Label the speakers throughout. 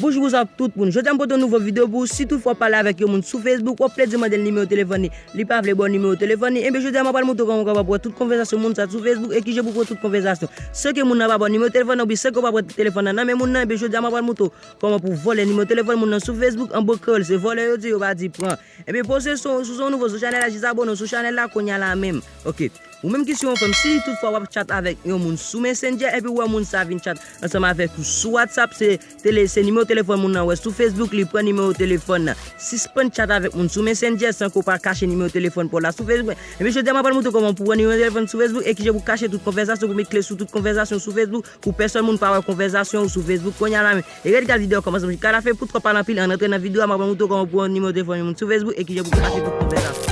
Speaker 1: Boujourouz ak tout moun, jodi a m pote yon nouvo video pou ou, si tout fwa w pale avèk yon moun sou Facebook, wap plede mande l nimewo telefòn li, li pa vle ba w nimewo telefòn li, enben jodi a m apral montre w kòman w kapab wè tout konvèzasyon moun sa sou Facebook e kijan pou w wè tout konvèzasyon san ke moun nan pa ba w nimewo telefòn nan oubyen san ke w pa pran telefòn nan nan men moun nan, enben jodi a m apral montre w kòman pou w vòlè nimewo telefòn moun nan sou Facebook, an bon kreyòl se vòlè yo di, yo pa di pran. Ebyen poste sou yon nouvo sou chanèl la jis abone w sou chanèl la kounya la menm ok ou menm ki se yon fanm si tout fwa wap chat avèk yon moun sou messenger epi ou wè moun sa vin chat ansanm avèk ou sou whatsapp se tele se nimewo telefòn moun nan wè sou facebook li pran nimewo telefòn nan sispann chat avèk moun sou messenger san ke w pa kache nimewo telefòn paw la sou facebook ebyen jodi a mwen pral moutre w kòman pou pran nimewo telefòn sou facebook e kijan pou kache tout konvèzasyon pou met kle sou tout konvèzasyon sou facebook Pou pèsòn moun pa wè konvèzasyon ou sou Facebook kounya la men. E red gad video an kòmansman jouk ka la fen poutko pale anpil ann antre nan video a map rann ou tou kòman pou wè nimewo telefòn yon moun sou Facebook e kijan pou ka swiv tout konvèzasyon.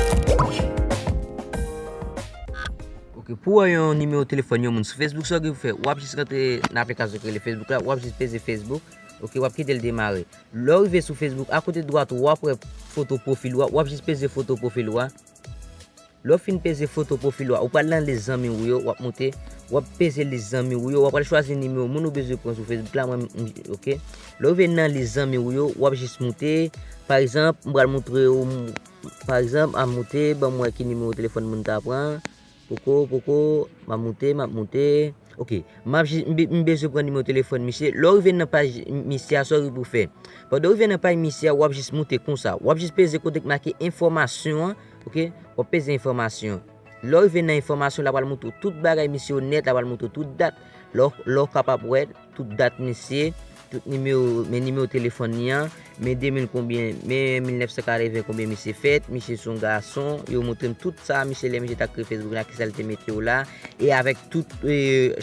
Speaker 1: Ok pou wè yon nimewo telefòn yon moun sou Facebook sa ou gen pou fè wap jis rantre nan aplikasyon ki rele Facebook la wap jis peze Facebook ok wap kite l demare lè ou rive sou Facebook a kote dwat ou wap wè foto pwofil ou a wap jis peze foto pwofil ou a. Lè w fin peze foto pwofil ou a, ou pral nan lis zanmi ou yo, w ap moute, w ap peze lis zanmi ou yo, w ap al chwazi nimewo moun ou bezwen pran sou Facebook la, mwen m ok. Lè w rive nan lis zanmi ou yo, w ap jis moute, pa egzanp, m pral moutre ou, pa egzanp, a moute, ban m wè ki nimewo telefòn moun ta pran, poko, poko, m ap moute, m ap moute, ok, m ap jis, m bezwen pran nimewo telefòn misye, lè w rive nan paj misye a, sa w rive pou fè? Pandan w rive nan paj misye a, w ap jis moute konsa, w ap jis peze kote ki make enfòmasyon an. Ok wap peze enfòmasyon lèw rive nan enfòmasyon la pral moutre w tout bagay misye onèt la pral moutre w tout dat lèw kapab wè tout dat misye tout nimewo men nimewo telefòn li an men 2000 konbyen men 1980 konbyen misye fèt misye son gason yo moutre m tout sa misye lè misye ta kreye facebook la kisa l te mete w la e avèk tout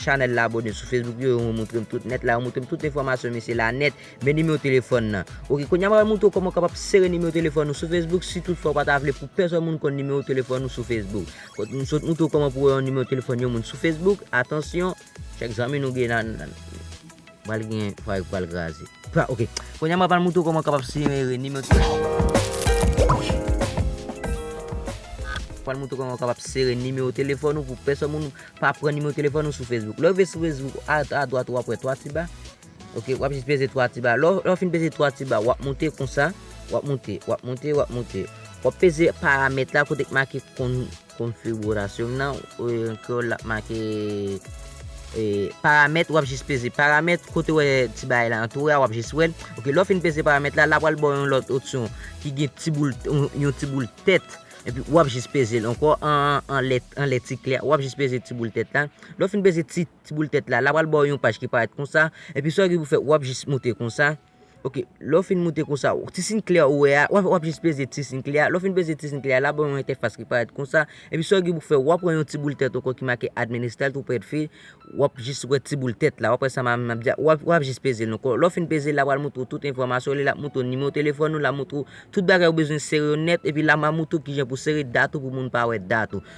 Speaker 1: chanèl la abòne sou facebook yo yo moutre m tout nèt la yo moutre m tout enfòmasyon misye la nèt Men nimewo telefòn nan. Ok, kounye a m pral montre w kòman w kapab sere nimewo telefòn ou sou Facebook si tout fwa ou pa ta vle pou pèsòn moun konn nimewo telefòn ou sou Facebook. Kot m sot montre w kòman pou wè yon nimewo telefòn yon moun sou Facebook, atansyon, chak zanmi nou gen nan nan. Pral gen fwa yo pral kraze. Pra ok, kounye a m pral montre w kòman w kapab sere nimewo telefòn. Pral montre w kòman w kapab sere nimewo telefòn ou pou pèsòn moun pa pran nimewo telefòn ou sou Facebook. Lè ou rive sou Facebook, a dwat ou ap wè 3 ti ba, Ok wap jis peze 3 ti ba lè w fin peze 3 ti ba wap moute konsa wap moute wap moute wap moute wap peze paramèt la kote ki make konfigurasyon nan an kreyòl la make paramèt wap jis peze paramèt kote wè ti bagay la an tou a wap jis wèl ok lè w fin peze paramèt la la pral ba w yon lòt opsyon ki gen ti boul yon ti boul tèt epi wap jis peze l ankò anlè ti kle a wap jis peze ti boul tèt la lè w fin peze ti ti boul tèt la, la pral baw yon paj ki parèt konsa, epi sa ou gen pou fè wap jis moute konsa, ok, lè ou fin moute konsa, ti siy klè ou wè a, wap jis peze ti siy klè a, lè ou fin peze ti siy klè a, la baw yon entèfas ki parèt konsa, epi sa ou gen pou fè wap pran yon ti boul tèt ankò ki make administer tout près de fi, wap jis wè ti boul tèt la, wap wè sa map di a, wap jis pezel ankò, lè ou fin pezel la pral moutre ou tout enfòmasyon li, lap moutre ou nimewo telefòn ou, lap moutre ou tout bagay ou bezwen sere yo nèt, epi la map moutre ou kijan pou sere dat ou pou moun pa wè dat ou.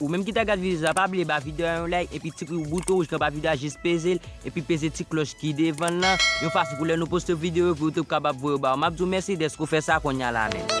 Speaker 1: Ou menm ki ta gad video sa pa bliye ba video a yon like epi tikri ou bouton rouj ki anba video a jis pezel epi peze ti klòch ki devanl lan yon fason pou lè nou poste video yo pou YouTube kapab voyo baw map diw mèsi dèske ou fè sa konnya la menm.